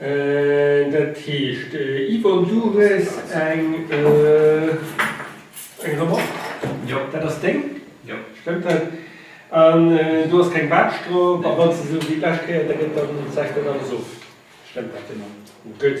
Dat heescht, Yvonne, du hues eng Remark? Jo. Dat ass deng? Jo. Stëmmt dat? An do ass keng Baatsch drop? A wann se esou wéi d'lescht Kéier, da gëtt dann d'Saach net alles of? Stëmmt dat? Genau. Gutt.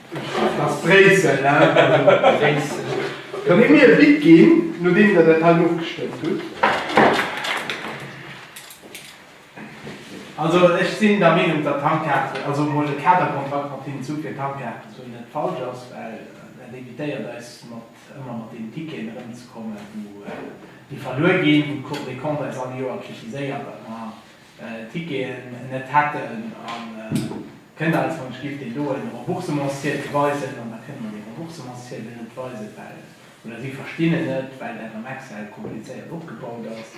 Ass Bréissel, ne? Bréissel. Kann Dir mir e Bic ginn, nodeem Der dat hei ofgestëmmt hutt? Also, ech sinn der Meenung, datt d'Tankkaarte, also emol e Kaderkontrakt mat deenen Zuch fir d'Tankkaarte ze hunn, net falsch ass, well dat evitéiert eis mat ëmmer mat deenen Ticketen erëmzekommen, wou déi verluer ginn, wou d'Cour des Comptes eis all Joer kritiséiert, datt mer Ticketen net hätten a kënnt alles wann ech giff den do en Remboursementsziedel weisen an da kënnt mer dee Remboursementsziedel net weisen well oder si verstinn en net well dat am Excel komplizéiert opgebaut ass.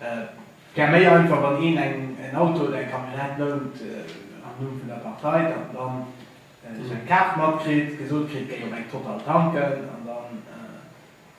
Et wär méi einfach wann een eng en Auto oder eng Camionnette lount am Numm vun der Partei dat en dann sou eng Kaart matkritt, gesot kritt géi op eng Total tanken an dann.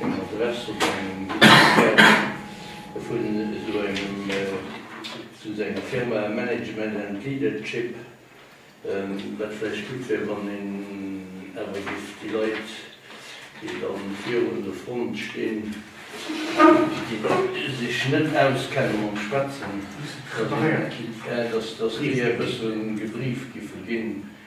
Eng Adress op engem Visitekaart vun esou engem zu senger Firma, Management and Leadership, wat vläicht gutt wär, wann een awer just déi Leit, déi da virun un der Front stinn, déi sech net auskennen mam Schwätzen, dass déi e bëssen gebrieft giffe ginn.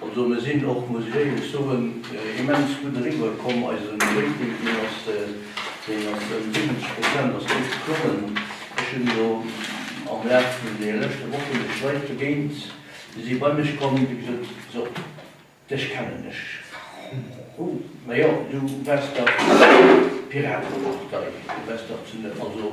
Also mir sinn och, muss ech éierlech soen, immens gutt eriwwer komm. Eise Rating, deen ass deen ass ëm 70 Prozent ass dee geklommen. Ech hunn elo am Laf vun de leschte Wochen mech Leit begéint, déi si bei mech komm, déi gesot, So, dech kennen ech, hu, ma jo, du waars dach Piratepartei, du waars dach zu, also.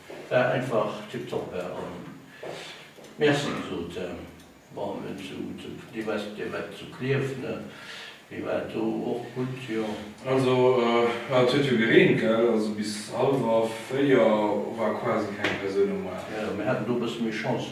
War einfach tiptop an merci gesot bon et zu zu dir wars dir wat zu Klierf ne mir war et do och gutt jo. Also jo et huet jo gereent gell also bis halwer 4 war quasi keng Persoun um Maart. Jo mir haten do bësse méi Chance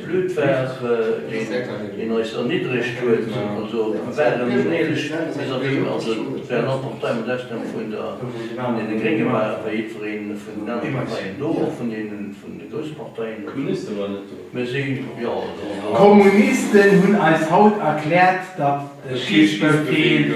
Blöd war, wéi een eis erniddregt huet, also mir waren unehrlech vis-à-vis, also et war en Entertainment aus dem vun der vun deene Grénge war wéi jiddwereen vun den anere Parteien do, och vun deene vun de grousse Parteien. D'Kommuniste waren net do. Mir si jo also. D'Kommunisten hunn eis haut erkläert, datt de Schichtbefehl.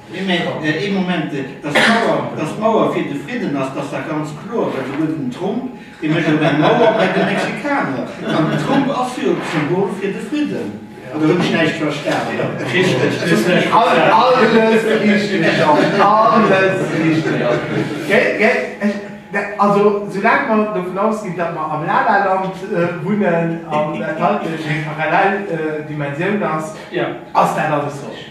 Mee mee, ee Moment, dass d'Mauer, dass d'Mauer fir de Fridden ass, dass dat ganz kloer, well souguer den Trump, dee mécht op eng Mauer bei de Mexikaner. An den Trump ass jo d'Symbol fir de Fridden. Oder hunn ech näischt verstan? Alles richteg, Jean, alles richteg. Gell, gell? Also, soulaang mer dovun ausginn, datt mer am La-La-Land wunnen an dat hei eng parallel Dimensioun ass, ass dat alles richteg.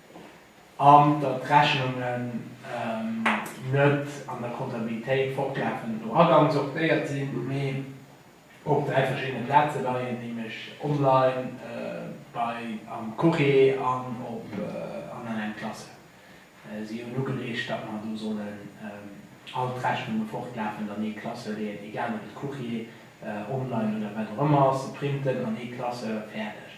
an datt d'Rechnungen net an der Kontabilitéit fortlafend no Agang sortéiert sinn, mee op dräi verschiddene Plaze leien, nämlech online, bei am Courrier an op an an eng Klasse. Si hunn ugereegt, datt mer do sollen all d'Rechnunge fortlafend an ee Klasse leeën, egal ob et Courrier, online oder wat och ëmmer ass, se printen, an ee Klasse, fäerdeg.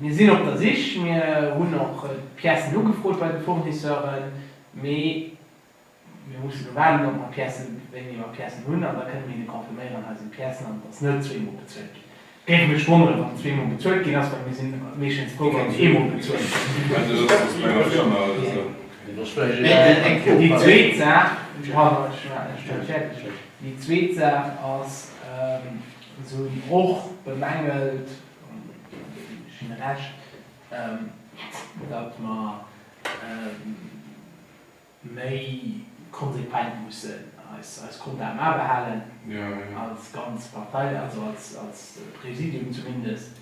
Mir sinn op der Sich, mir hunn och d'Piècen ugefrot bei de Fournisseuren, mee mir mussen elo waarden, ob mer Piècen, wéi mir emmer Piècen hunn, an da kënne mir hinne confirméieren, hei sinn d'Piècen an et ass net zwee Mol bezuelt ginn. Et géif mech wonneren, wann et zwee Mol bezuelt ginn ass, well mir si meeschtens frou, wann et ee Mol bezuelt gëtt. Déi zweet Saach ass, se hunn och bemängelt, Hun Recht, datt mer méi konsequent mussen eis Konten abehalen, als ganz Partei, also als Präsidium zumindest,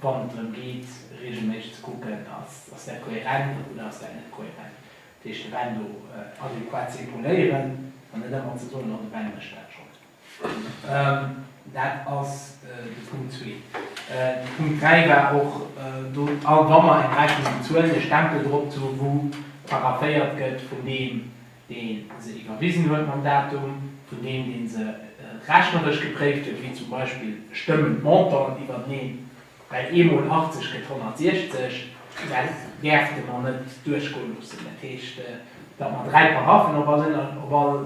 wann et drëm geet, regelméisseg ze kucken, Ass dat kohärent oder ass dat net kohärent? Dat heescht, de Benno adequat ze epauléieren an net ëmmer ze soen, Oh, de Benno mécht dat schonn. Dat ass de Punkt zwee. De Punkt dräi war och do, all wa mer eng Rechnung bezuelen, e Stempel drop ze hu wou parapheiert gëtt vun deem, dee se iwwerwisen huet mam Datum, vun deem, dee se rechneresch gepréift huet, wéi zum Beispill stëmmen d'Montanten iwwerteneen, well ee mol 80 gëtt 160. Dat däerfte mer net duerchgoe loossen. Dat heescht, datt mer dräi Paraphien op all.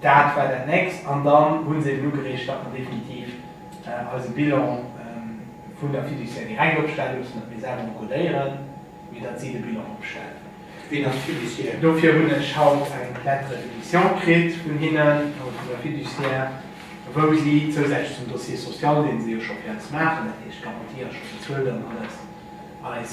Dat war dat Nächst. An dann hu se eben ugereegt, datt mer definitiv eise Bilan vun der Fiduciaire direkt opstelle loossen, datt mir selwer encodéieren, mee datt si de Bilan opstellen. Wien ass d'Fiduciaire? Dofir hunn ech haut eng Lettre de mission kritt vun hinnen, also vun der Fiduciaire, wou si zousätzlech zum Dossier social, dee se jo scho fir eis maachen, dat heescht Garantie ass scho bezuelt an alles, eis,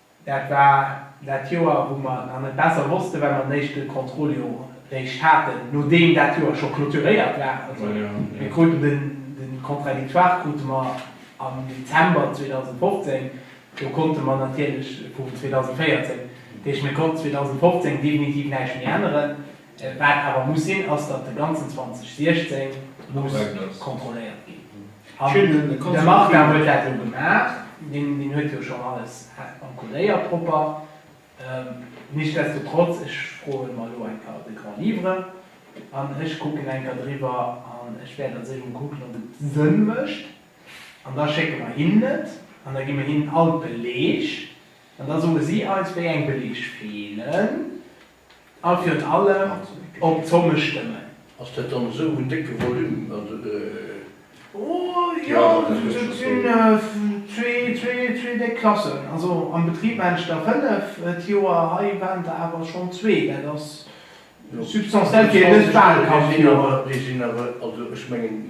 Dat war dat Joer, wou mer nach net besser wossten, well mer den éischte Contrôle jo réischt haten, nodeem dat Joer scho clôturéiert war. Also, mir kruten de Contradictoire krute mer am Dezember 2015, do konnte mer natierlech, vum 2014, dat heescht, mir konnten 2015 definitiv näischt méi änneren. Wat awer muss sinn, ass, datt de ganzen 2016 muss kontrolléiert ginn. An de Martin huet dat jo gemaach, deen huet jo schonn alles encolléiert propper. Nichtsdestotrotz, ech froe mer elo eng Kéier de Grand Livre an ech kucken eng Kéier driwwer an ech wäert als éischt emol kucken, ob et Sënn mécht. An da schécke mer hinnen et an da gi mer hinnen all d'Beleg an da soe si eis, wéi eng Beleg feelen. A virun allem op d'Somme stëmmen. Ass dat dann esou en décke Volume? Jo, dat sinn zwee déck Klassen. Also am Betrib mengen ech der fënnef d'Joer, hei waren der awer schonn zwee. Dat ass substantiell, fir en net bal Kand-Joer. Déi sinn awer, also ech mengen,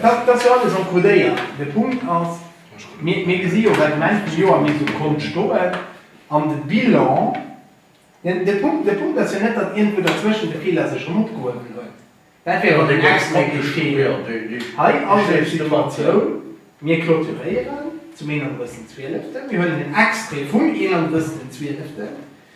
Dat ass jo alles encodéiert. De Punkt ass, mir gesi jo well um Enn vum Joer mir esou Kont stoen an de Bilan, de Punkt, de Punkt ass jo net, datt iergendwou derzwëschen de Feeler sech erëm opgehuewen huet. Dat wär jo den extrae Feeler. Hei ass eng Situatioun, mir clôturéieren zum 31.12. Mir huelen en Extrae vum 31.12.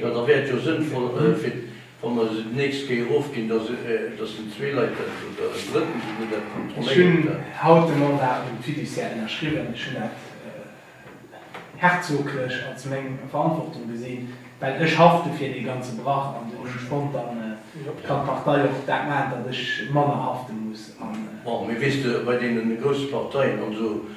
Jo da wär et jo sënnvoll fir wann mer se d'nächst Kéier erofginn, dass dass den zwee Leit dat, oder en drëtten souguer, dat Ech hunn kontrolléiert dat. haut de Mandat um Fiduciaire ënnerschriwwen. Ech hunn dat herzoglech als meng Verantwortung gesinn, well ech hafte fir dee ganze Brach an den Spontan. Dann kann d'Partei och dat maachen, datt ech manner hafte muss. An. Bon, mee weess de, bei deene grousse Parteien an esou,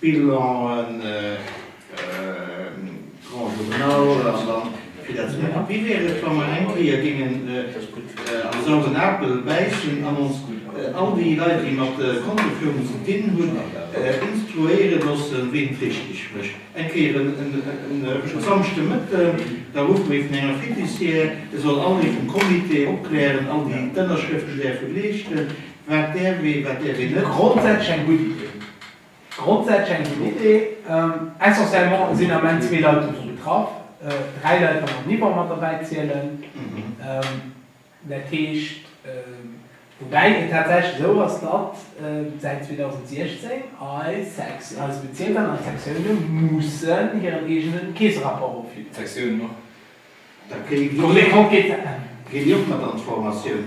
Bilan, Grand Journal, an dann fir dat ze maachen. Wéi wär et, wa mer eng Kéier géingen am sauren Apel bäissen an ons all déi Leit, déi mat Kontoführung ze dinn hunn, instruéiere loossen, wéi een et richteg mécht? Eng Kéier e Samschdemëtten, da ruffe mir vun enger Fiduciaire, e soll all ee vum Comité opklären, all déi d'Ënnerschrëften däerfe leeschten, wat däerf ee, wat däerf een net. Grondsätzlech eng gutt Idee. Grondsätzlech eng gutt Idee. Essentiellement sinn am Enn zwee Leit dovun betraff, dräi Leit wann mer d'Nivåer mat derbäi zielen. Dat heescht, woubäi et tatsächlech esou ass, datt säit 2016 all Sekt, all Bezierk an all Sektioune mussen hiren eegenen Keesserapport ofginn. D'Sektiounen och? Ginn déi och mat an d'Formatioun?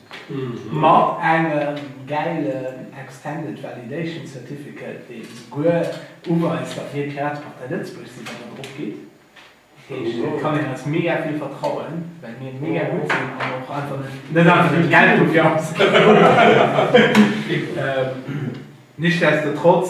Mat engem gäilen Extended Validation Certificate, dee souguer uweist, datt mir d'Piratepartei Lëtzebuerg sinn, wann Der drop gitt. Dat heescht, et kann een eis mega vill vertrauen, well mir mega gutt sinn an och einfach net, net einfach net Geld dofir ausginn. Nichtsdestotrotz.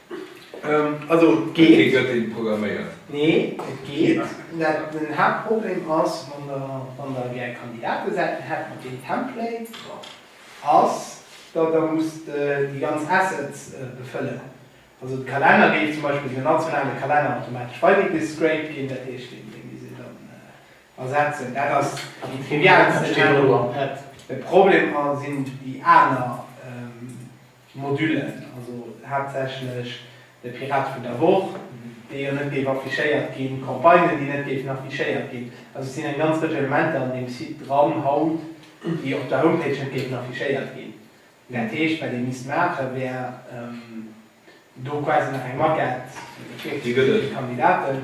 Also et geet. Kee gëtt deen et programméiert. Nee, et geet. Den Haaptproblem ass, wann der gär Kandidatesäiten hätt mat deem Template, ass datt der musst déi ganz Assets befëllen. Also de Kalenner géif zum Beispill, den nationale Kalenner, automatesch weidegescraped ginn, dat heescht dee misst ee dann ersetzen. Dat ass déi trivialste Saach. De Problem sinn déi aner. Modulen, also haaptsächlech de Pirat vun der Woch, dee jo net géif affichéiert ginn, Campagnen, déi net géifen affichéiert ginn. Also et sinn eng ganz Rëtsch Elementer an deem Site dran haut, déi op der Homepage net géifen affichéiert ginn. Dat heescht, wat ee misst maachen, wär do quasi nach eng Maquette virzeléie fir d'Kandidaten.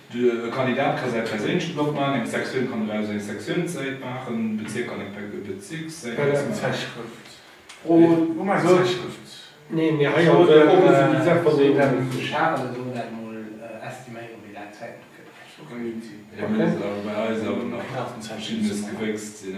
De Kandidat ka säi perséinleche Blog maachen, eng Sektioun kann eraus eng Sektiounssäit maachen, e Bezierk kann eng Bezikssäit maachen, oder eng Zäitschrëft. Hie muss awer bei eis awer nach verschiddenes gewéckst sinn.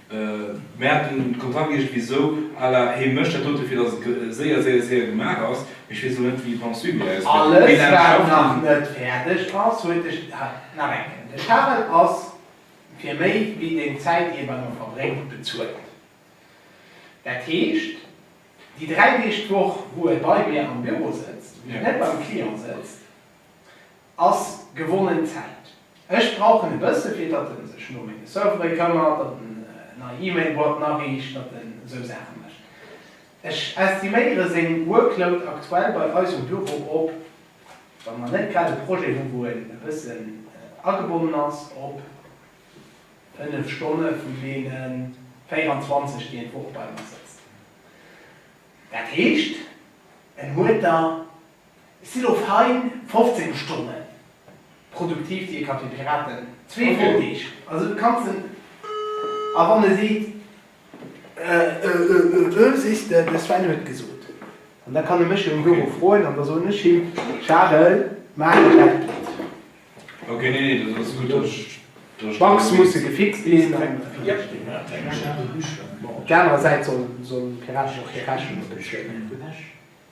Mär haten d'Kontakte gesicht wéi esou à la Hee mécht dat dote fir datt et séier, séier, séier gemaach ass. Mee ech weess elo net wéi wann d'Suite méi ausgesäit. Alles wat nach net fäerdeg ass huet de, nach eng Kéier, de Charel ass fir méi wéi deng Zäit déi e bei mer verbréngt bezuelt. Dat heescht déi 3 Deeg d'Woch wou e bei mir am Büro sëtzt, wou e net beim Client sëtzt, Ass gewonnen Zäit. Ech brauchen e bësse fir datt en sech no menge Servere këmmert, datt en nei E-Mail-Boîten ariicht, datt en esou Saache mécht. Ech estiméiere seng Workload aktuell bei eis um Büro op, wa mer net grad e Projet hu wou en e bëssen agebonnen ass, op 5 Stonne vun deene 24 déi en d'Woch bei mer sëtzt. Dat heescht en huet der Et sinn lo fein 15 Stonne produktiv, déi ee ka fir d'Piraten, zwee voll Deeg. Also du kanns en, a wann e seet ë ë ë, sees de, de Sven huet gesot. An da kann e mech jo am Büro froen, an da soen ech him, Charel, maach et, dat geet. D'Bugs musse gefixt ginn, an op där anerer Säit sollen d'Piraten och hir Rechnunge bezuelen.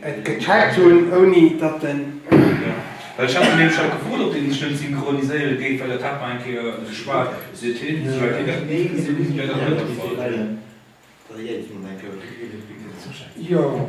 Et gëtt Chat hunn ouni datt den. Well ech hat den Här Schack gefrot, ob dee sech net synchroniséiere géif, well dat hat mer eng Kéier geschwat. Seet hien, Sou wäit wéi dat mir gesinn hunn, wär dat net de Fall. Jo,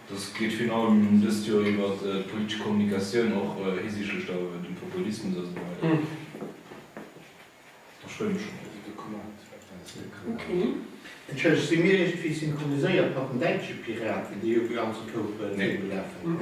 Dëst geet virun allem dëst Joer iwwer d'politesch Kommunikatioun, och hisiichtlech dem Populismus a sou weider. Ech free mech schonn. Entschëllegt, si mir iergendwéi synchroniséiert mat den däitsche Piraten, déi jo ganz e koupe virgelafen hunn?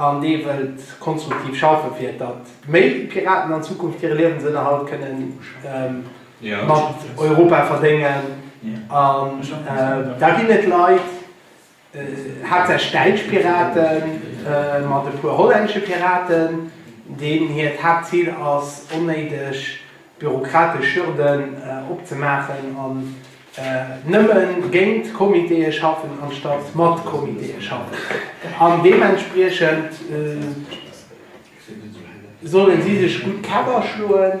an dee wëllt konstruktiv schaffen, fir datt méi Piraten an Zukunft hire Liewensënnerhalt kënne mat Europa verdéngen. An da ginn et Leit, haaptsächlech däitsch Pirate mat e puer hollännesche Piraten, deenen hiert Haaptzil ass, onnéideg bürokratesch Hürden opzemaachen an nëmme géint Comitéë schaffen anstatt mat Comitéë schaffen. An deementspriechend solle si sech gutt d'Käpper schloen.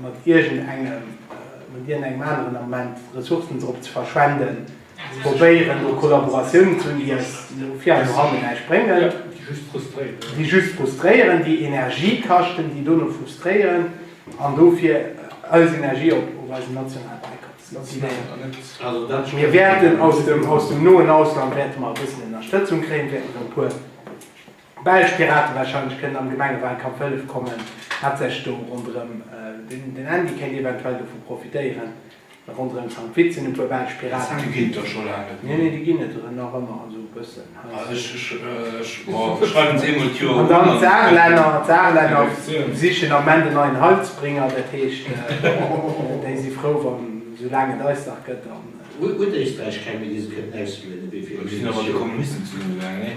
mat iergend engem, mat iergend engem aneren Ament Ressourcen drop ze verschwenden, ze probéieren do Kollaboratiounen ze hunn, déi eis no vir an no hanne näischt bréngen, déi just frustréieren, déi Energie kaschten, déi dono frustréieren an dofir eis Energie op eisen nationalen Eikaf setzen. Mir wäerten aus dem noen Ausland wäerte mer e bëssen Ënnerstëtzung kréien, wäerten e puer. Belsch Piraten wahrscheinlech kënnen am Gemengewahlkampf hëllef kommen, wat sech do ronderëm, den Andy kéint eventuell dovu profitéieren, ronderëm zankt witzen. E puer Belsch Piraten. Déi ginn et do scho laang net méi. Nee, nee, déi ginn et nach ëmmer esou e bëssen. Ech schreiwen se eemol d'Joer un. An dann d'Saarlänner, d'Saarlänner sichen am Ment en neien Heilsbringer, dat heescht, déi si frou wann esou laang et eis nach gëtt. An. Huet Éisträich keng méi déi se kënten auslueden, ewéi virun 70 Joer? Do sinn awer d'Kommunisten zu hinne gaangen, nee?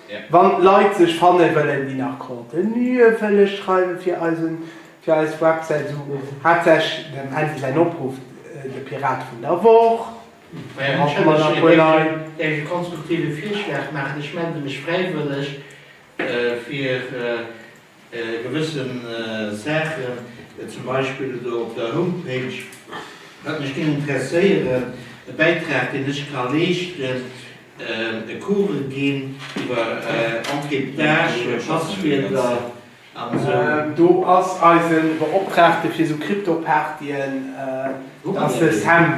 Wann Leit sech fanne wëllen déi nach Contenue wëlle schreiwe fir eis Websäit, sou hat sech dem Andy säin Opruff, de Pirat vun der Woch, Fir haut hu mer nach e puer Leit. Däerf ech e konstruktive Virschlag maachen? Ech melde mech fräiwëlleg fir. Gewëssen Saachen, zum Beispill do op der Homepage, wat mech géing interesséieren, e Bäitrag, deen ech ka leeschten, e Cours ginn iwwer Encryptage, Passwierder an esou. Do ass eise Beoptraagte fir esou Kryptopartyen, dat ass de Sam.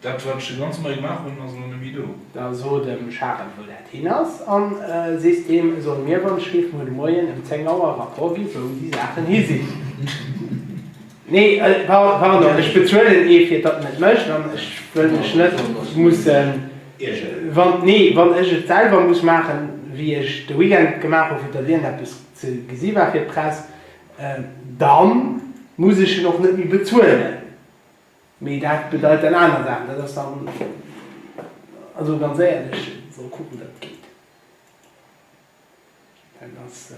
Dat, wat ech de ganze Moie gemaach hunn, ass elo net méi do. Da so dem Charel, wou dat hin ass, a sees deem, e soll mir wann ech géif muer de Moien ëm 10 Auer e Rapport gi wou déi Saachen hi sinn. Nee, pardon, ech bezuelen ee fir datt en et mécht an ech wëll mech net mussen iergeren. Nee, wann ech et selwer muss maachen, wéi ech de Weekend et gemaach hu fir datt iergendeppes ze gesi war fir d'Press, da muss ech en och net méi bezuelen. Mee dat bedeit dann aner Saachen. Dat ass dann, also ganz éierlech, soll kucken, datt et geet. Dat ass.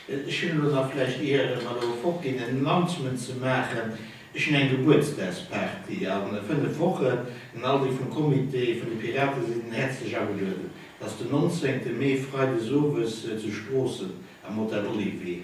Ech hunn elo nach vläicht, ier mer elo fortginn, en Announcement ze maachen. Ech hunn eng Gebuertsdagsparty a fënnef Wochen an all déi vum Comité vun de Piraten sinn häerzlech agelueden. Dat ass den 19 Mee, freides owes, zu Stroossen am Hotel Olivier.